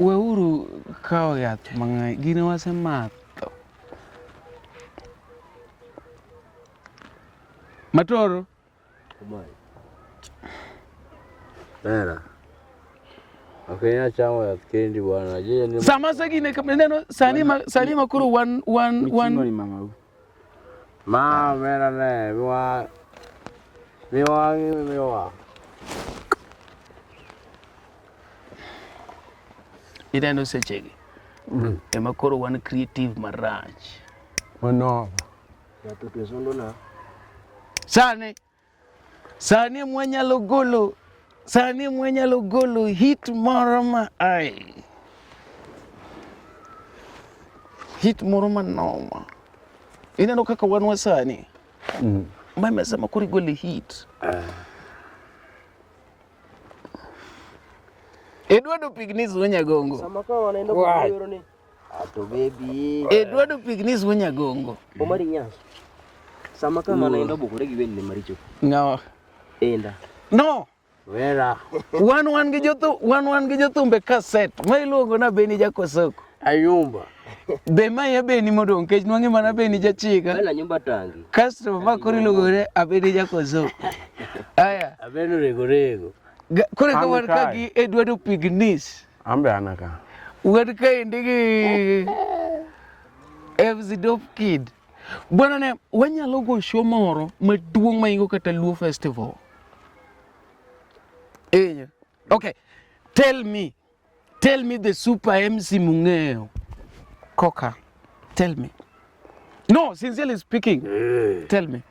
Weuru kawo yath mang'eny. Gine wasemadho. Matoro. Nera. Akwenya chamo yath kendi bwana. Sama sagine neno sani ma sani ma koro wan wan wan. Ma omera ne miwa miwa miwa. Ineno sechegi ema koro wan creative marach. Mano. Sani Sani e mwanyalo golo sani e mwanyalo golo hit moro ma ai hit moro manoma. Ineno kaka wan wasani mm. ma imesema koro igole hit ah. Edward Opignis Onyagongo. Sama kawa wanaenda kujioroni. To baby. E dwa do pignis wunya gongo. Omari nyas. Sama kama mm. naenda bukure gi wende maricho. Ngawa. Enda. No. Vera. wan wan gi jothu wan wan gi jothumbe kaset ma iluongo na Beni Jakosoko. Ayumba. Be ma ya Beni modong kech nwange mana Beni jachika. Bela nyumba tangi. Kasto ma kori lugore abeni Jakosoko. Aya. Abeni rego rego. Kore kawan kagi Eduardo Pignis. Ambe anaka. Ugatika indigi. Evzi dope kid. Bwana ne wanyalo go show moro maduong' maingo kata Luo Festival. Enya. Okay. Tell me. Tell me the super MC mung'eyo. Koka. Tell me. No, sincerely speaking. Hey. Eh. Tell me.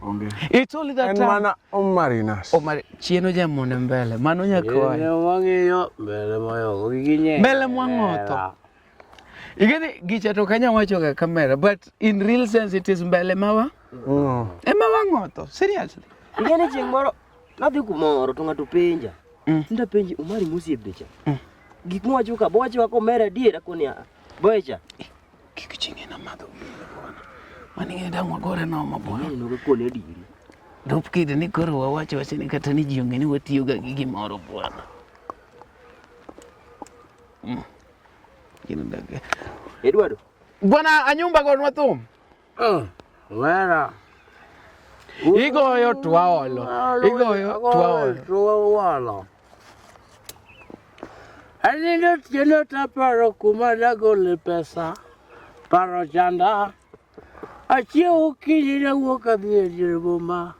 Onge. It's only that En time. mana Omarinas. Omari, chieno jamone mbele. Mano nyakoa. Ne wang'iyo mbele moyoko gi ginye. Mbele mwang'otho. Ingeni gicha to kanya wacho ga kamera but in real sense it is mbele mawa. Mm. Ema wang'otho. Seriously. Ingeni chieng' moro nadhi kumoro to ng'ato penja. Mm. Nda penji Omari Musie bicha. Mm. Gik mwacho ka bowacho ka omera adiera koni a. Boecha. Kik chinge na madho gini bwana. Mani ng'e dang' wagore nomo bwana. Ng'e nogo kone diri. Dop kidi ni koro wawacho wacho ni kata ni ji ong'e ni watiyo ga gi gimoro bwana. Mm. Gino ndage. Eduardo. Bwana anyumba go nwa thum. Oh, wera. Igoyo twaolo. Igoyo twaolo. Twaolo. Anindo tieno taparo kuma nagole pesa paro chanda achiew okinyi nawuok adhi e dier boma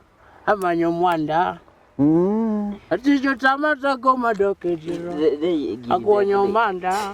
amanyo mwanda Mm. aticho tama tago madok e diero They, they give agonyo them, omanda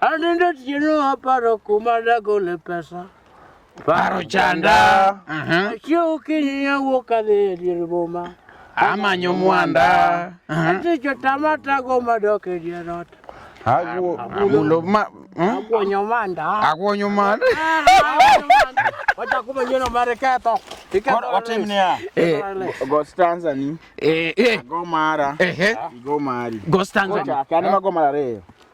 Anende tieno aparo kuma dagole pesa. Paro chanda. Aha. Achiew okinyi awuok adhi e dier boma. Amanyo mwanda. Aha. Atich otama tago madok e dier ot. Agwo. Amulo ma. hmm? Akwonyo manda. Akwonyo man. Wachako manyieno mar ketho. Iketho- Watim niya. Eh, Go stanza ni. eh, eh, Go mara. eh, eh. Go mari. Go stanza. Ochaka. An ema go mar ariyo.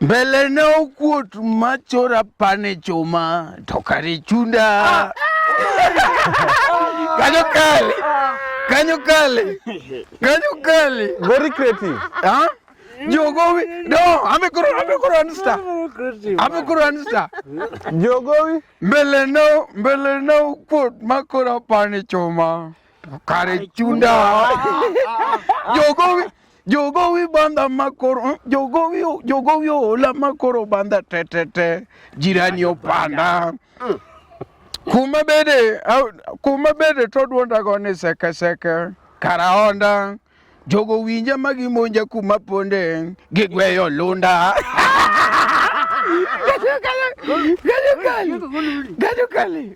Mbele ne okuot machora pane chuma to kare chunda. Kanyo kale. Kanyo kale. Kanyo kale. Very creative. Huh? Jogowi. No, ame koro ame koro ansta. Ame koro ansta. Jogowi. Mbele no mbele no kuot makora pane choma. Kare chunda. Jogowi. Jogowi banda makoro jogowi jogowi ola makoro banda tetete jirani opanda kuma bede au- kuma bede to duonda go ni seke seke karaonda jogo winja ma gimonja kuma ponde gigweyo lunda Gajukali, gajukali,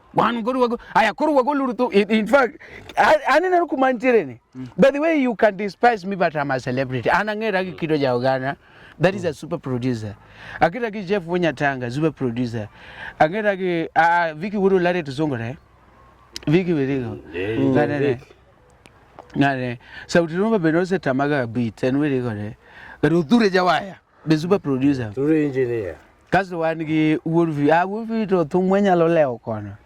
Wan koro wago aya koro wago luru tu in, in fact aneno kuma nitiere ni. Mm. By the way you can despise me but I'm a celebrity. An ang'era gi kido ja oganda. That is a mm. super producer. Akira gi Jeff Wonyatanga super producer. Ang'era gi uh, Vicky Wuru Lare Tusongore. Vicky Wirigo. Yeah, yeah, yeah. Ngane sauti rumba benose tamaga beat and Wirigo. Garuthure jawaya. The super producer. Through engineer. Kaso wan gi wuod vi. Ah, wuod vi to thum wanyalo lewo kono.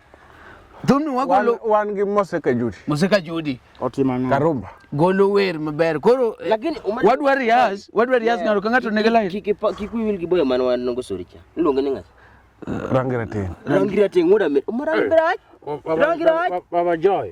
Thumni wagolo wan gi Moseka Judi. Moseka Judi. Otimo ang'o? Karumba. Golo wer maber. Koro eh, lakini wadwa rias, wadwa rias ng'ato ka ng'ato nigi line. Kik kik wil gi boyo man wan ngo sori cha. Iluonge ni ng'at. Rangira teng. Rangira teng wuod amet. Rangira. Rangira. Baba Joy.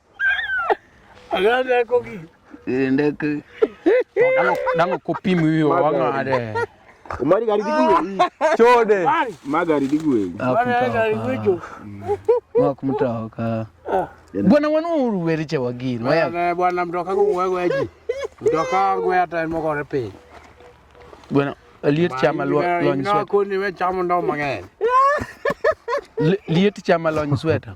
Aganda koki. Ndeke. Dango dango kopimi wiyo wang'ade. Umari gari digwe. Chode. Magari digwe. Wak mtoka. Bwana wanu uruweri che wagin. Waya. Bwana mtoka ko wewe weji. Mtoka ngwe ata mo gore pe. Bwana liet chama lo lo nswe. Ko ni we chama ndo mang'eny. Liet chama lo nsweta.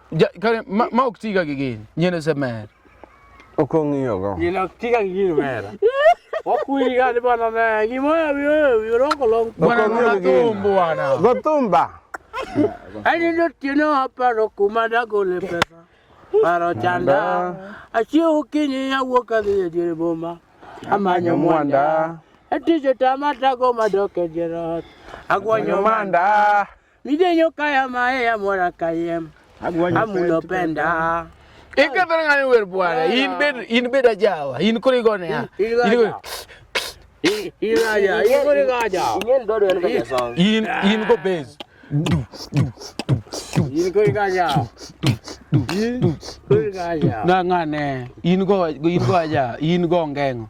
Ja, kare, ma, ma ok tiga gi gini. Nyien ose mer. Ok ong'iyogo. Nyien ok tiga gi gini mer. Wakwiri gani bwana na gimoya biyo birongo long. Bwana na tumbo bwana. Go tumba. Ani ndo tino hapa ro kumada gole pesa. Paro chanda. Achio kinyi ya woka dhiye dire boma. Amanyo mwanda. Etijo tamata go madoke jerot. Agwanyo manda. Midenyo kaya mae ya mora kayem. Amulo penda. Eka ber ngani wer bwana. In bed in bed ajawa. In kuri gone ya. In kuri. In aja. In kuri aja. In dodo en kaya song. In in go base. In kuri aja. In kuri aja. Na ngane. In go in go aja. In go ngengo.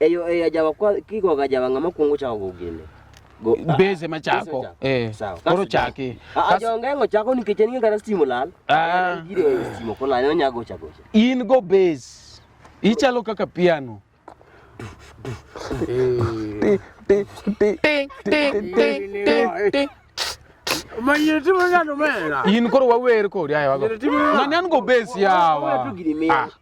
Eyo eyo ajawa kwa kiko gajawa ngama kungu cha ogugine. Go ah, beze machako. Eh. Koro chaki. Ah, Ajo ngengo chako ni kicheni ngara stimu lal. Ah. Gire eh, stimu kola no nyago chako. In go base. Ichalo kaka piano. In koro wawer kodi ayo. Nani an go base yawa. Ah.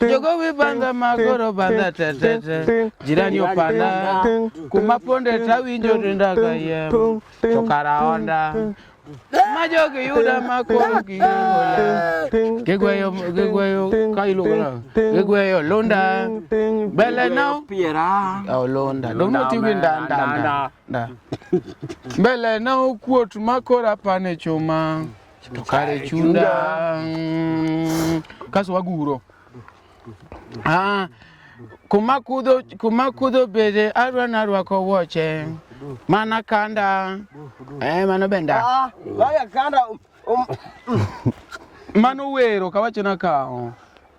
Jogo vibanda magoro bandha tetete jirani opanda kuma ponde tawinjo denda kayiem to kara onda ma jogi yuda ma koro giyogola gigweyo gigweyo ka iluongo nang'o? gigweyo lunda bele no Piera. Oh, londa dong notiyo gi nda nda nda nda mbele na okuot ma koro apane chuma to kare chunda mm, kaso waguro ah, kuma kudho kuma kudho bede arwa narwako wuoche mana kanda eh, mano benda Ah, Maya kanda um, um, mano wero kawacho na kao